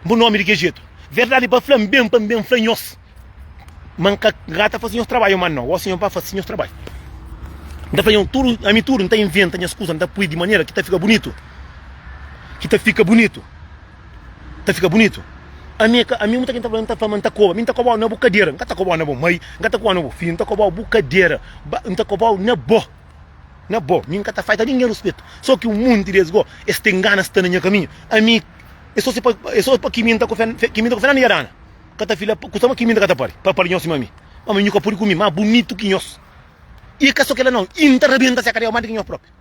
bu nomi di ke jetu. Verdadi pa fla, N ben pa N ben fla nhos ma N ka ka ta fasi nhos trabadju ma no, gosi nhos ba fasi nhos trabadju. N ta fla nhos tudu, ami tudu N ta inventa nha skusa, N ta pui di manera ki ta fika bunitu, ki ta fika bunitu. ta fika bunitu. Ami é ka, ami muita gente ta fla ma N ta koba, mi N ta koba-u na bu kadera, N ka ta koba-u na bu mai, N ka ta koba-u na bu fidju, N ta koba-u bu kadera, ba, N ta koba-u na bo, na bo, mi N ka ta falta ningen ruspetu, so ki un monti des go, es ten gana sta na nha kaminhu, ami, é so se pa, é so pa kiminta ku Fer, kiminta ku Fernando dja dana, ka ta fila, kusa ma kiminta ka ta pari, pa pari nhos sima mi, ma mi, nhu ka pudi ku mi, ma bunitu ki nhos, i ka so kila nau, i N ta rabenta se kadera madi ki nhos propi.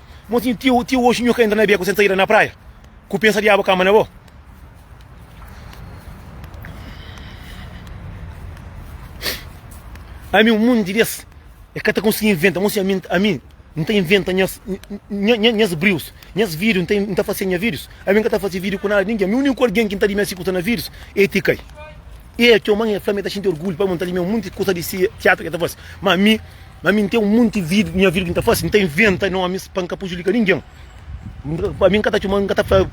Mo si ti ti oxi nhu ka entra na beku sen saida na praia ku pensa diabu kama na bo. Ami un monti des e ka ta konsigi inventa, mo si ami ami n ta inventa nhas nhas brius, nhas video n ta fase nha videos, ami n ka ta fase video ku nada ningen, mi uniku algen ki n ta di mi asi kusa na videos e ti kai. E txoman e fla mi e ta xinti orgulhu pamodi n ta di mi un monti kusa di si tiatru ki e ta fase, ma mi. Ma mi n ten un monti vídiu, nha vídiu ki n ta faze, n ta inventa nómis pa n ka pujudika ningen. Pa mi n ka ta txoma, n ka ta fla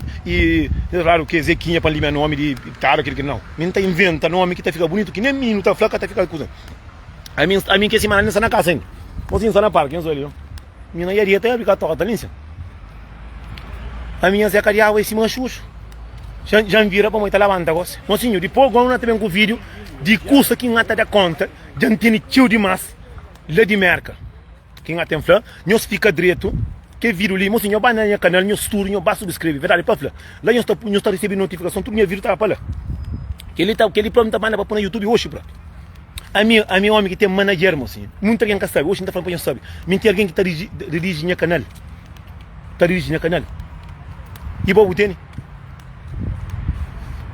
radu ke Zekinha pa n limia nómi di Tadu, kil, kil. Nau, mi n ta inventa nómi ki ta fika bunitu, ki nen mi nu ta fla ka ta fika kuza. Ami, ami kes simana ami sta na kasa ainda. Gosi n sta na parki, nhos obi li. Mi na Iaria ta abi ka toka ta linsia. Ami nha zeka di awa i sima xuxu. Jan, jan vira pamodi ta labanta gosi. Mosinhu, dipos gosi n na ta ben ku vídiu di kusa ki n na ta da kónta. Dja N tene txeu dimás la di Mérka. Ki N até N fla, nhos fika dretu, kel vidru li, mosi, nho ba na nha kanal, nhos tudu, nho ba subskrebe. Verdadi pa fla, la nhos ta, nhos ta resebe notifikason, tudu nha vidru ta ba pa la. Kel-li ta, kel-li própi N ta banda pa poi na Youtube oxi própi. Ami, ami é ómi ki ten manager, mosi, munti algen ka sabe, oxi N ta fla pa nhos sabe, mi N ten algen ki ta ridigi, ridigi nha kanal, ta ridigi nha kanal. I bo bu tene?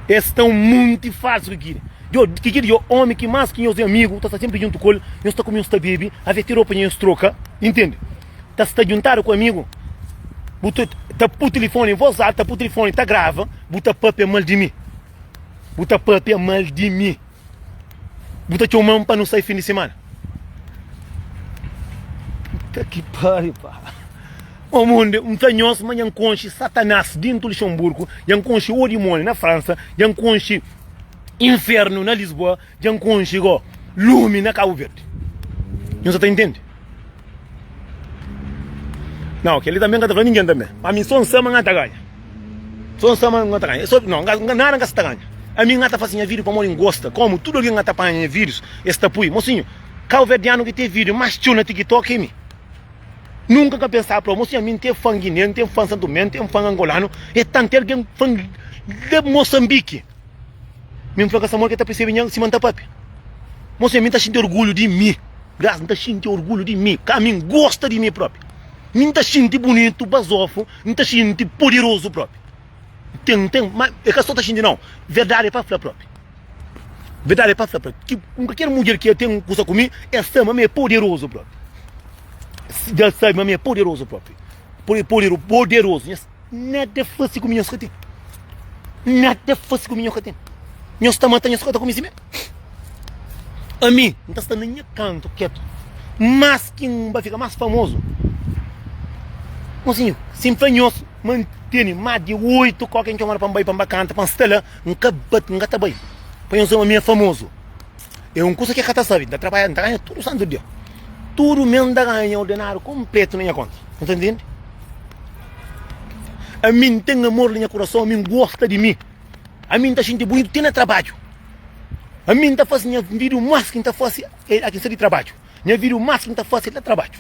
Es sta un monti falsu ki kiri Djo ki kiri djo omi ki mas ki nhos é amigu ta sta senpri djuntu ku el nhos ta kume nhos ta bebe avia ti ropa dja nhos troka intende ta sta djuntadu ku amigu bu ta ta pui tilifoni em voz alta ta pui tilifoni ta grava bu ta papia mal di mi bu ta papia mal di mi Bu ta txoman pa nu sai fin di semana? Puta ki pari pa. O munde, m ta nhos ma nha konxi Satanás dintu Luxemburgo, nha konxi o dimoni na Fransa, nha konxi infernu na Lisboa, nha konxi go lumi na Cabo Verde. Nho sa ta intende? Não, que ele também canta para ninguém também. Para mim, só um samba não tá ganha. Sô N sta ma N ta ganha. Sô Nau, nga, nada N ka sta ganha. Ami N ata fase nha video pamodi N gosta. Komu tudu algen ata panha nha videos, es ta pui. Mosinhu, kauverdianu ki ten video mas txeu na TikTok é mi. Nunka N ka pensaba plau, mosinhu ami N ten fan Guiné, N ten fan Santo Tomé, N ten fan Angolanu, é tanti algen fan la Moçambique. Mi N fla ka Samuel ke ta persebe nha sima N ta pape. Mosinhu ami N ta xinti orgulhu di mi. Grazi N ta xinti orgulhu di mi. Ka ami N gosta di mi propi. Mi N ta xinti bunitu, bazofu. N ta xinti poderozu propi. N ten, N ten, ma e ka sta ta xinti nau. Verdadi e pa fla propi. Verdadi e pa fla propi. Ki un kalker mudjer ki e ten kusa ku mi, e sta ma mi e poderozu propi. Dja e sabi ma mi e poderozu propi. Pode, pode, poderozu. Nhos, nada e fasi ku mi nhos ka ten. Nada e fasi ku mi nhos ka ten. Nhos ta mata, nhos ka ta kume si me. Ami n ta sta na nha kantu ketu mas ki n ba fika mas famozu mosinhu si n fla nhos ma n tene mas di oitu koke n txomadu pa n bai pa n ba kanta pa n sta la n ka ba n ka ta bai pa nhos ma mi é famozu é un kusa ki e ka ta sabe n ta trabadja n ta ganha tudu santu dia tudu mes n ta ganha ordenadu konpletu na nha konta nu ta ntende ami n ten amor na nha kurason ami n gosta di mi. Ami N ta xinti bunitu ti na trabadju Ami N ta fase nha vidu mas ki N ta fase el aki N sta di trabadju Nha vidu mas ki N ta fase el na trabadju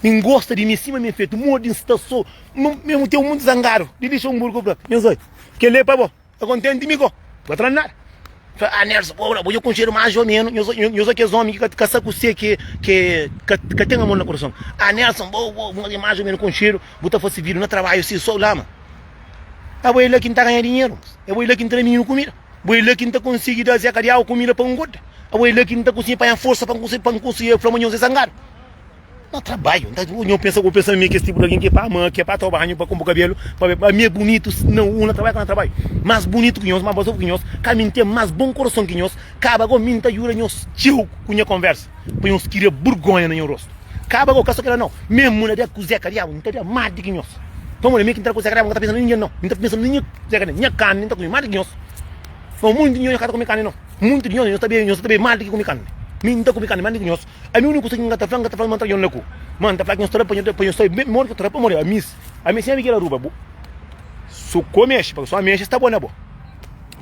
N gosta di mi sima mi fetu Mo di N sta so N mesmu teu mundu zangadu Di lixa un burgu bra Nhos oi Kel-li é pa bo Ka kontenti mi ko Ka fla nada Fla ah Nerso bo bra Bo dja konxedu más ô menus Nhos oi Nhos oi kes ómi ki ka sta ku se ki ke Ka ten amor na kurason Ah Nerso bo bo Nhos oi más ô menus konxedu Bu ta fase vidu na trabadju si so lama. É bo é la ki N ta ganha dinheru, é bo é la ki N ta da mininu kumida, bo é la ki N ta konsigi da Zé Kadiau kumida pa ngoda, é bo é la ki N ta konsigi panha forsa pa N konsigi, pa N konsigi fla ma nha Zé zangadu. N ta trabadju, nha pensa, bo pensa ma mi é kes tipu di algen ki é pa ama, ki é pa toma banhu, pa kunpra kabelu, pa be, pa mi é bunitu si na un na trabadja ka na trabadja, más bunitu ki nhos, más bazobu ki nhos, ka mi N ten más bon kurason ki nhos, kaba gó mi N ta djuda nhos txeu ku nha konversa. pa nhos tira burgonha na nho rostu. Kaba gau kasa kela nau. Memu na dia ku Zeka diabu mi ta dia ma di ki nhos. Pamodi mi ki ntra ku Zeka diabu mi ka ta pensa na ningen nau. Mi ta pensa na nho Zeka ne. Nha kami mi ta kumi ma di ki nhos. Ma muntu di nho nho ka ta kumi kami nau. Muntu di nho nho ta bebe, nho sa ta bebe ma di ki kumi kami. Mi nta kumi kami ma di ki nhos. Ami uniku kusa ki nga ta fla, nga ta fla ma ntra nho laku. Ma nta fla ki nhos ta rapanha pa nhos sai bem modi ki ta rapa modi ami. Ami sin ami ki el aruba bo. Su ku amexi, pa ki su amexi sta bo na bo.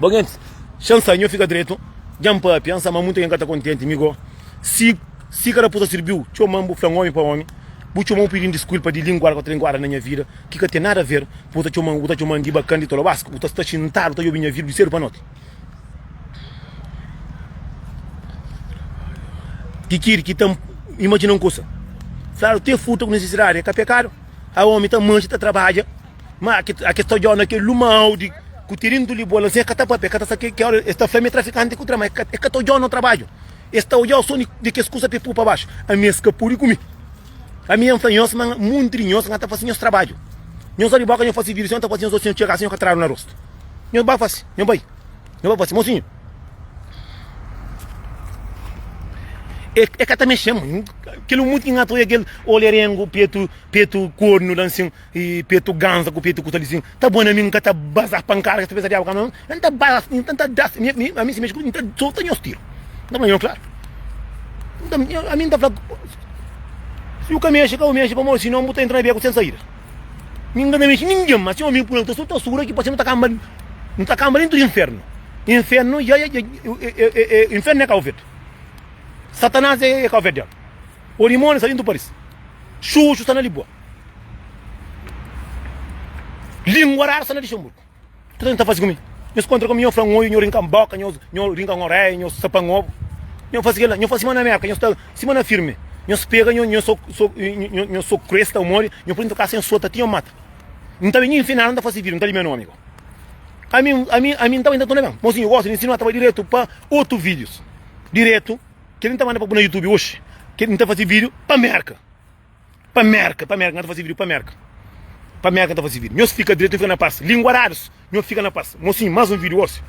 Bom gentis, xa N sa, nho fika dretu, dja N papia, N sa ma munta nhen ka ta kontenti, mi go, si si ka ta pusa sirbiu, txoman bu flan omi pa omi, bu txoman bu pidin diskulpa di linguar ku ta linguada na nha vida ki ka ten nada ver, pa bu ta txoman, bu ta txoman di bakan, di tolobasku, bu ta sta xintadu ta obi nha vida di sedu pa noti. Ki kiri ki ta imajina un kusa, fladu te futa ku nisisidadi e ka pekadu, a omi ta manxa ta trabadja. Ma a ki sta djona kel luma audi ku tirintu li bola sen ka ta papia ka ta sa ki ki ora es ta fla mi trafikante ku tra ma e ka ta odjau no trabadju es ta odjau so di kes kusa pe pu pa baxu ami es ka pudi ku mi ami ya fla nhos ma monti di nhos nha ta fasi nhos trabadju nhos obi boka nhos fasi vidu si nhos ta fasi nhos osi nhos txega si nhos ka tradu na rostu nhos ba fasi nhos bai nhos ba fasi mosinhu e e ka ta mexema kel muti ki nha ta oia kel olerengu petu petu kornu la nsin E petu ganza ku petu ku ta lisin ta bone mi nka ta baza pankada kes pesa diabu ka ma n ta baza si nta nta da mi mi ami si mexi ku mi nta solta nhos tiru n ta fla nhos klaru nta ami nta fla si bu ka mexi ka bu mexi pamodi si non bu ta entra na beku sen saida mi nka ta mexi ningen ma si omi pula ku ta solta sura ki pa se nu ta kanba nu ta kanba dentu di infernu infernu ya ya infernu e kauvedu satanas e kauvedu diabu o dimoni sta dentu paris xuxu sta na libua. Língua rara sta na Lixemburgu. Tudu algen ta faze ku mi. Nho skontra ku mi, nho fla un oiu, nho rinka-m boka, nho rinka-m oréia, nho sapa-m obu. Nho faze kel-la. Nho fla sima na Mérka, nho sta sima na firmi. Nho spega, nho soku kresta un modi, nho poi-m ta kasa, nho sota ti nho mata. N ta ben nho infina-l, N ta fase vidru, N ta lime nomi bo. Ami, ami, ami N ta bai nta tuna ben. Mô si nho gosta di nsinu, N ta bai diretu pa otu vídius. Diretu, kel-li N ta manda pa bu na YouTube oxi. Kel-li N ta faze vídiu pa Mérka. Pa Merka, pa Merka, n'ka ta fase vídio pa Merka Pa Merka n'ka ta fase vídio, nhos fika dretu, n'ka ta fase vídio Nhos fika na pas, linguarados, nhos fika na pas Mosinhu, más un vídio osi.